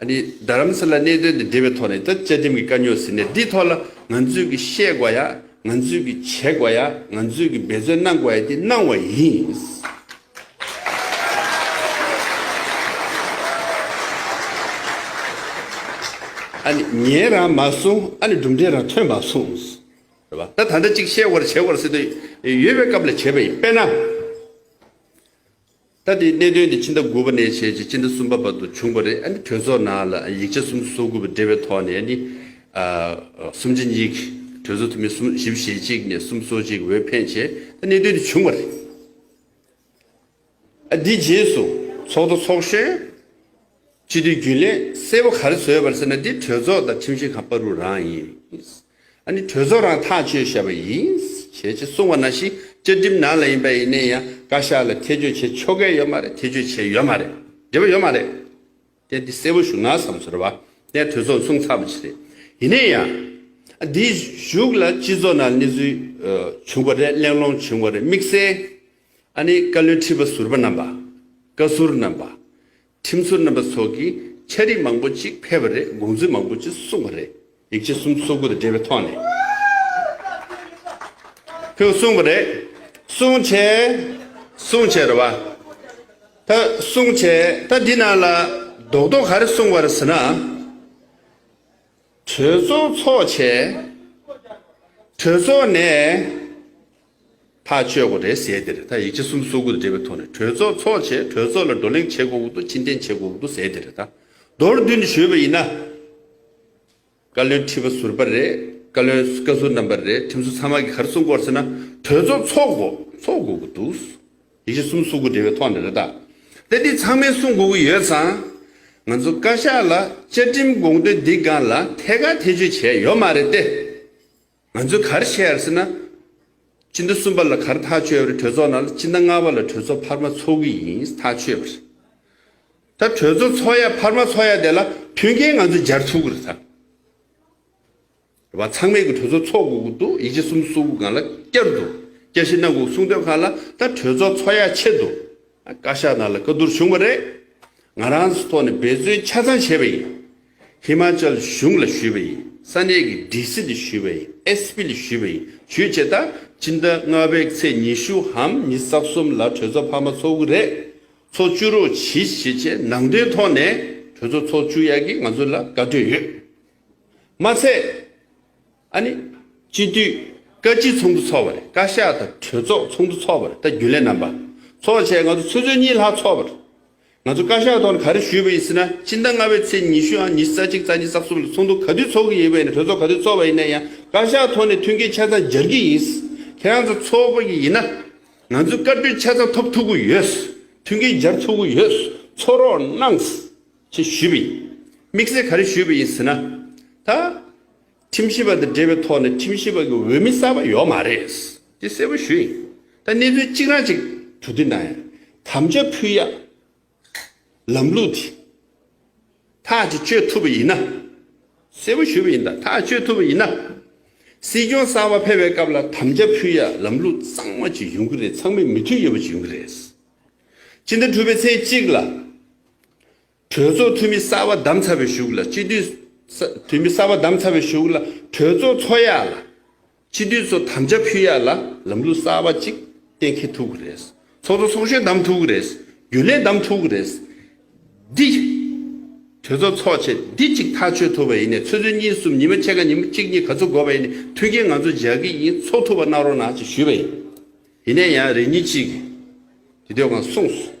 ཨ་ནི་རྡ་རམ་ས་ལའི་གནད་དོན་དེ་འབྲེལ་བའི་ཐོག་ནས་ད་བཅའ་ཁྲིམས་ཀྱི་དཀའ་རྙོག་ཟིན་ནས་འདིའི་ཐོག་ལ་ང་ཚོས་ཀྱི་བཤད་དགོས་ཡ་ང་ཚོས་ཀྱི་བྱེད་དགོས་ཡ་ང་ཚོས་ཀྱི་འབད་བརྩོན་གནང་དགོས་ཡ་དེ་གནང་བ་ཡིན། ཨ་ནི་ཉན་རང་མ་སོང་ཨ་ནི་གྲུབ་འབྲས་རང་ཐོན་མ་སོང། ད་ད་འདྲ་གཅིག་བཤད་དགོས་ར་བྱེད་དགོས་ར་སྲིད་དུ་ཡོད་པའི་སྐབས་ལ་བྱས་པ་ཡིན་དཔེར་ན། ད་དེའི་གནད་དོན་དེ་སྤྱི་ཟླ་དགུ་པ་ནས་བྱས་རྗེས་སྤྱི་ཟླ་གསུམ་པ་བར་དུ་བྱུང་བ་རེད་ཨ་ནི་གྲོས་ཚོགས་ནང་ལ་ཡིག་ཆ་གསུམ་གསོག་དགོས་པ་འབྲེལ་བའི་ཐོག་ནས་ཨ་ནི། གསུམ་གཅིག་གཉིས་གྲོས་ཚོགས་འཐུས་མི་གསུམ་བཞི་བཞེས་གཅིག་ནས་གསུམ་གསོག་གཅིག་འོས་འཕེན་བྱས་ད་གནད་དོན་དེ་བྱུང་བ་རེད། ཨ་དེའི་རྗེས་སུ་ཚོགས་འདུ་འཚོགས་ཤེས། སྤྱི་འཐུས་རྒྱུན་ལས་གསལ་བོ་ག་རེ་བཟོས་ཡོད་པ་རེད་ཟེར་ན་འདི་གྲོས་ཚོགས་དང་ཁྲིམས་ཞིབ་ཁང་པ་རུ་རང་ཡིན། ཨ་ནི་གྲོས་ཚོགས་རང་ཐག་གཅོད་བྱས་པ་ཡིན། བྱས་ཅེས་གསུངས་བ་ན་ཞིག་བཅའ་ཁྲིམས་ནང་ལ་ཡིན་པ་ཡིན་ནས་ཡང་བཀའ་ཤག་ལ་ཐེ་བྱུས་བྱེད་ཆོ་གས་ཡོད་མ་རེད་ཐེ་བྱུས་བྱས་ཡོད་མ་རེད་འབྲེལ་བ་ཡོད་མ་རེད། དེ་འདི་གསལ་བོ་ཞུ་ན་བསམ་ཟོར་བ་ནས་གྲོས་ཚོགས་གསུངས་ཚར་བ་ཅིག་རེད། ཡིན་ནས་ཡང། འདིའི་གཞུག་ལ་སྤྱི་ཚོགས་ནང་གནས་ཚུལ་བྱུང་བ་རེད་གླེང་སློང་བྱུང་བ་རེད་དམིགས་བསལ་ཨ་ནེ་བཀའ་བློན་ཁྲི་པ་ཟུར་པ་རྣམ་པ། བཀའ་ཟུར་རྣམ་པ། ཁྲིམས་ཟུར་རྣམ་པ་སོགས་ཀྱིས་འཆད་རིགས་མང་པོ་ཅིག་ཕེབས་པ་རེད་དགོངས་ཚུལ་མང་པོ་ཅིག་གསུངས་པ་རེད་ཡིག་ཆ་གསུམ་སོ་དགུ་དང་འབྲེལ་བའི་ཐོག་ནས་ཁོས་གསུངས་པ་རེད་གསུངས་བྱས་གསུངས་བྱས་རེད་བ། ད་གསུངས་བྱས་ད་འདི་ནང་ལ་རྡོག་རྡོག་ག་རེ་གསུངས་བ་རེད་ཟེར་ན། གྲོས་ཚོགས་ཚོགས་བྱས། གྲོས་ཚོགས་ནས། ཐག་ཆོད་དགོས་རེད་ཟེར་དེར་ད་ཡིག་ཆ་གསུམ་བཟོ་དགོས་རེད་འབྲེལ་བའི་ཐོག་ནས་གྲོས་ཚོགས་འཚོགས་ཆེད་གྲོས་ཚོགས་ལ་བགྲོ་གླེང་བྱེད་དགོས་འོག་ཏུ་ཕྱིར་འཐེན་བྱེད་དགོས་འོག་ཏུ་ཟེར་དེར་ད་མདོར་བསྡུས་ནས་ཞུས་པ་ཡིན་ན། བཀའ་བློན་ཁྲི་པ་ཟུར་པ་རེད་བཀའ་བློན་བཀའ་ཟུར་རྣམ་པ་རེད་ཁྲིམས་བཟོ་ཚང་མ་གིས་ག་རེ་གསུངས་སྐོར་ཟེར་ན་གྲོས་ཚོགས་འཚོགས་དགོས་འཚོགས་དགོས་ཀྱི་འདུག་ཡིག་ཆ་གསུམ་བཟོ་དགོས་འབྲེལ་བའི་ཐོག་ནས་རེད་ད་དེ་འདི་ཚང་མས་གསུངས་དགོས་ཀྱི་ཡོད་ཙང། ང་ཚོ་བཀའ་ཤག་ལ་བཅའ་ཁྲིམས་དགོངས་དོན་འདི་སྒང་ལ་ཐད་ཀར་ཐེ་བྱུས་བྱས་ཡོད་མ་རེད་དེ། ང་ཚོས་གར་བྱེད་ཡར་ཟེར་ན། སྤྱི་ཟླ་གསུམ་པ་ལ་གར་ཐག་ཆོད་རེད་གྲོས་ཚོགས་ནང་ལ་སྤྱི་ཟླ་ལྔ་པ་ལ་གྲོས་ཚོགས་འཕར་མ་ཚོགས་གི་ཡིན་ཐག་ཆོད་པ་རེད། ད་གྲོས་ཚོགས་ཚོགས་ཡ་འཕར་མ་ཚོགས་ཡ་དེ་ལ་མཐུན་རྐྱེན་ང་ཚོས་སྦྱར་ཐུབ་གི་རེད་ད། རེད་པ་ཚང་མས་གི་གྲོས་ཚོགས་ཚོགས་དགོས་གི་འདུག་ཡིད་ཆེ་གསུམ་གསུང་གི་གང་ལ་བསྐྱར་འདུག་བསྐྱར་ཤི་གནང་གི་གསུང་ཐོས་གང་ལ་ད་གྲོས་ཚོགས་ཚོགས་ཡ་ཆེ་འདུག་བཀའ་ཤག་ནང་ལ་བཀའ་བསྡུར་བྱུང་བ་རེད། ང་རང་ཚོའི་ཐོག་ནས་འབད་བརྩོན་ཆ་ཚང་བྱས་པ་ཡིན། ཧི་མཱ་ཅལ་གཞུང་ལ་ཞུས་པ་ཡིན། ས་གནས་ཀྱི་སྒྲིག་སྲིད་ལ་ཞུས་པ་ཡིན། ཨེས་པི་ལ་ཞུས་པ་ཡིན། ཇུས་བྱེད་ད་ཕྱི་ཟླ་ལྔ་བའི་ཚེས་ཉི་ཤུ་འམ་ཉི་ས་གསུམ་ལ་གྲོས་ཚོགས་འཕར་མ་ཚོགས་ཀྱི་རེད། ཚོགས་བཅུ་རོགས་གྱིས་བྱེད་ཅེས་ནང་དོན་ཐོག་ནས་གྲོས་ཚོགས་ཚོགས་བཅུ་ཡག་གིས་ང་ཚོ་ལ་བཀའ་བགྲོས་ཡོད། མ་ཚད། ཨ་ནི། སྤྱི་འཐུས། བཀའ་སྤྱི་ཚོགས་འདུ་ཚོགས་པ་རེད་བཀའ་ཤག་དང་གྲོས་ཚོགས་ཚོགས་འདུ་ཚོགས་པ་རེད་ད་རྒྱུན་ལས་རྣམ་པ། ཚོགས་ཆེན་ང་ཚོ་ཚོད་ཚོད་གཉིས་ལྷག་ཚོགས་པ་རེད། ང་ཚོ་བཀའ་ཤག་ཐོག་ནས་ག་རེ་ཞུས་པ་ཡིན་ཟེར་ན་སྤྱི་ཟླ་ལྔ་པའི་ཚེས་ཉི་ཤུ་འམ་ཉི་ཤུ་རྩ་གཅིག་རྩ་གཉིས་རྩ་གསུམ་ལ་ཚོགས་འདུ་ག་དུས་ཚོགས་ཀྱི་ཡིན་པ་ཡིན་ན་གྲོས་ཚོགས་ག་དུས་ཚོགས་པ་ཡིན་ན་ཡང་བཀའ་ཤག་ཐོག་ནས་མཐུན་རྐྱེན་ཆ་ཚང་སྦྱར་གྱི་ཡིན། ཁྱེད་རང་ཚོ་ཚོགས་པ་ཡིན་ན། ང་ཚོས་བཀའ་ཁྲོལ་ཆ་ཚང་ཐོབ་ཐུབ་གི་ཡོད། མཐུན་རྐྱེན་སྦྱར་ཐུབ་གི་ཡོད། ཚོགས་རོགས་གནང། ཞེས་ཞུས་པ་ཡིན། དམིགས་བསལ་ག་རེ་ཞུས་པ་ཡིན་ཟེར་ན། ད། ཁྲིམས་ཞིབ་པ་དང་འབྲེལ་བའི་ཐོག་ནས་ཁྲིམས་ཞིབ་པ་གི་འོས་མི་གསར་པ་ཡོག་མ་རེད། དེ་གསལ་པོ་ཞུ་ཡིན། ད་གནས་ཚུལ་གཅིག་རང་གཅིག་གྲུ་དུས་ན་ཡང་དམ་བཅའ་ཕུལ་ཡག་ལམ་ལུགས་དེ་ཐག་གཅིག་གཅོད་ཐུབ་པ་ཡིན་ན། གསལ་པོ་ཞུ་བ་ཡིན་ད་ཐག་གཅོད་ཐུབ་པ་ཡིན་ན། སྲིད་སྐྱོང་གསར་པ་ཕེབས་པའི་སྐབས་ལ་དམ་བཅའ་ཕུལ་ཡག་ལམ་ལུགས་གཙང་མ་གཅིག་ཡོང་གི་རེད་ཚང་མས་མི་མཐུན་ཡོད་པ་གཅིག་ཡོང་གི་རེད། སྤྱི་ཟླ་དྲུག་པའི་ཚེས་གཅིག་ལ། གྲོས་ཚོགས་འཐུས་མི་གསར་བ་བདམས་ཚར་བའི་གཞུག་ལ་སྤྱི་འཐུས། འཐུས་མི་གསར་བ་བདམས་ཚར་བའི་གཞུག་ལ་གྲོས་ཚོགས་འཚོགས་ཡ་ལ། སྤྱི་འཐུས་ཚོ་དམ་བཅའ་ཕུལ་ཡ་ལ་ལམ་ལུགས་གསར་བ་ཅིག་གཏན་འཁེལ་ཐུབ་གི་རེད། ཚོགས་གཙོ་ཚོགས་གཞོན་བདམས་ཐུབ་གི་རེད། རྒྱུན་ལས་བདམས་ཐུབ་གི་རེད། འདི། གྲོས་ཚོགས་འཚོགས་ཆེད་འདི་གཅིག་ཐག་ཆོད་ཐུབ་པ་ཡིན་ནས་ཚོད་ཚོད་གཉིས་གསུམ་ཉིན་མ་ཕྱེད་ཀ་ཉིན་མ་གཅིག་གཉིས་ག་ཚོད་འགོར་བ་ཡིན་ནས་མཐུན་རྐྱེན་ང་ཚོ་འཇགས་ཀྱི་ཡིན་འཚོགས་ཐུབ་པ་གནང་རོགས་གནང་ཞེས་ཞུས་པ་ཡིན། དེ་ནས་ཡང་རེ་གཉིས་གཅིག་གིས་དེ་དུས་གང་གསུངས་སོ།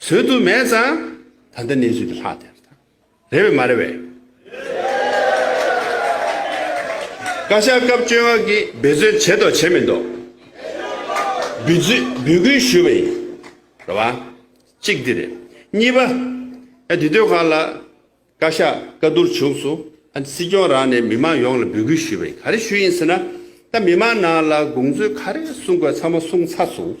བཟོད་དུ་མེད་ཙང་ད་ལྟ་གནས་ཚུལ་འདི་ལྷག་དེར་ཐལ། རེད་བས་མ་རེད་བས། བཀའ་ཤག་སྐབས་བཅོ་ལྔ་གིས་འབད་བརྩོན་བྱས་མདོག་བྱས་མི་མདོག། འབུལ་རྫུས་འབུལ་སྐུལ་ཞུས་པ་ཡིན། རེད་བ། གཅིག་འདི་རེད། གཉིས་པ། ཡ་འདི་སྡོད་ཁང་ལ། བཀའ་ཤག་བཀའ་བསྡུར་བྱུང་སུ། ཨ་འདི་སྲིད་སྐྱོང་རང་ནས་མི་མང་ཡོངས་ལ་འབུལ་སྐུལ་ཞུས་པ་ཡིན་ག་རེ་ཞུས་ཡིན་ཟེར་ན། ད་མི་མང་ནང་ལ་དགོངས་ཚུལ་ག་རེ་གསུང་དགོས་ཚང་མ་གསུང་ཚར་སོང།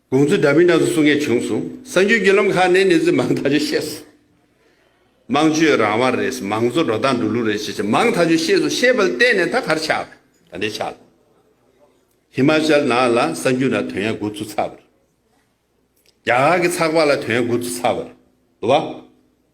དགོངས་ཚུལ་འདྲ་མིན་འདྲ་མཚུངས་གསུང་མཁན་བྱུང་སོང། གསར་འགྱུར་བརྒྱུད་ལམ་ཁག་ནས་གནས་ཚུལ་མང་ཐག་ཆོད་བཤད་སོང། དམངས་སྤྱོད་རང་དབང་རེད། མང་གཙོ་འགྲོ་སྟངས་འགྲོ་ལུགས་རེད་ཅེས་བྱས་མང་ཐག་ཆོད་བཤད་སོང་བཤད་པ་ལ་བལྟས་ནས་ད་གར་ཆགས་པ་རེད། ད་འདྲའི་ཆགས་ལ། ཧི་མཱ་ཅལ་ནག་ལ་གསར་འགྱུར་ན་དོན་ཡག་དགོས་ཚུལ་ཚགས་པ་རེད། རྒྱ་གར་གྱི་ཚགས་པར་ལ་དོན་ཡག་དགོས་ཚུལ་ཚགས་པ་རེད། འདུག་བ།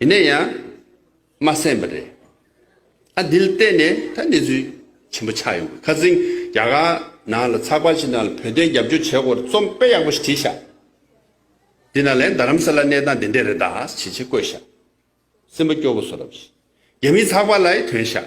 ཡིན་ན་ཡང་མ་གསན་པ་རེད། ཨ་འདིལ་བལྟས་ནས་ད་གནས་ཚུལ་ཆེན་པོ་ཆགས་ཡོང་གི་ཁ་ཟིང་རྒྱ་གར་ནང་ལ་ཚགས་པར་ཞིག་ནང་ལ་བོད་དོན་རྒྱབ་སྐྱོར་བྱེད་སྐོར་རྩོམ་དཔེ་ཡག་པོ་ཞིག་བྲིས་ཤག་འདི་ནང་ལས་རྡ་རམ་ས་ལ་གནས་སྟངས་འདི་འདྲས་རེད་ད་ཇེ་ཆེ་བཀོད་ཤག་སེམས་པ་སྐྱོ་པོ་བཟོ་རབས་ཤིག་རྒྱ་མིའི་ཚགས་པར་ལ་ཡི་དོན་ཤག།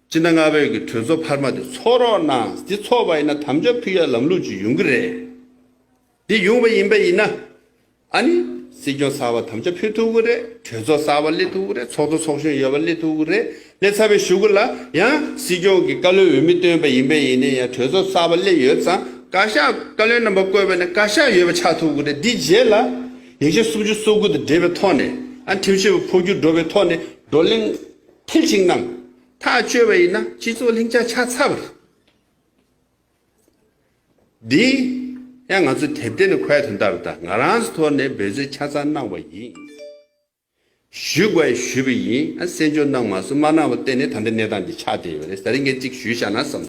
སྤྱིར་ན་སྔར་བོད་ཀྱི་གྲོས་ཚོགས་འཕར་མ་དེ་ཚོགས་རོགས་གནང་དེ་ཚོགས་པ་ཡིན་ན་དམ་བཅའ་ཕུལ་ཡག་ལམ་ལུགས་ཅིག་ཡོང་གི་རེད། འདི་ཡོང་བ་ཡིན་པ་ཡིན་ན། ཨ་ནི་སྲིད་སྐྱོང་གསར་བ་དམ་བཅའ་ཕུལ་ཐུབ་གི་རེད་གྲོས་ཚོགས་གསར་བ་སླེབས་ཐུབ་གི་རེད་ཚོགས་གཙོ་ཚོགས་གཞོན་ཡོད་པ་སླེབས་ཐུབ་གི་རེད་སླེབས་ཚར་བའི་ཞུ་གི་ལ་ཡང་སྲིད་སྐྱོང་གི་བཀའ་བློན་འོས་མི་བཏོན་པ་ཡིན་པས་ཡིན་ནས་ཡང་གྲོས་ཚོགས་གསར་བ་སླེབས་ཡོད་ཙང་བཀའ་ཤག་བཀའ་བློན་རྣམ་པ་བསྐོས་པ་ནས་བཀའ་ཤག་ཡོད་པ་ཆགས་ཐུབ་གི་རེད་འདི་རྗེས་ལ་ཡིག་ཆ་སུམ་ཅུ་སོ་དགུ་དང་འབྲེལ་བའི་ཐོག་ནས་ཨ་ནི་ཁྲིམས་ཞིབ་པ་འཕོ་འགྱུར་འགྲོ་བའི་ཐོག་ནས་བགྲོ་གླེང། མཐིལ་གཅིག་རྣམས་ཐག་གཅོད་པ་ཡིན་ན་སྤྱི་ཚོགས་ལྷིང་འཇགས་ཆ་ཚ་བ་རེད། འདི་ཡང་ང་ཚོ་དེབ་དེ་ནས་ཁོའི་དོན་དག་རེ་དང་ང་རང་ཚོ་ཐོག་ནས་འབད་རྩོལ་ཆ་ཚང་གནང་བ་ཡིན། ཞུས་དགོས་ཞུས་པ་ཡིན། གསན་འཇོག་གནང་མ་སོང་མ་གནང་བ་བརྟེན་ནས་ད་ལྟའི་གནས་སྟངས་འདི་ཆགས་བསྡད་ཡོད་རེད་ཟེར་མཁན་གཅིག་ཞུས་བཞག་ན་བསམ།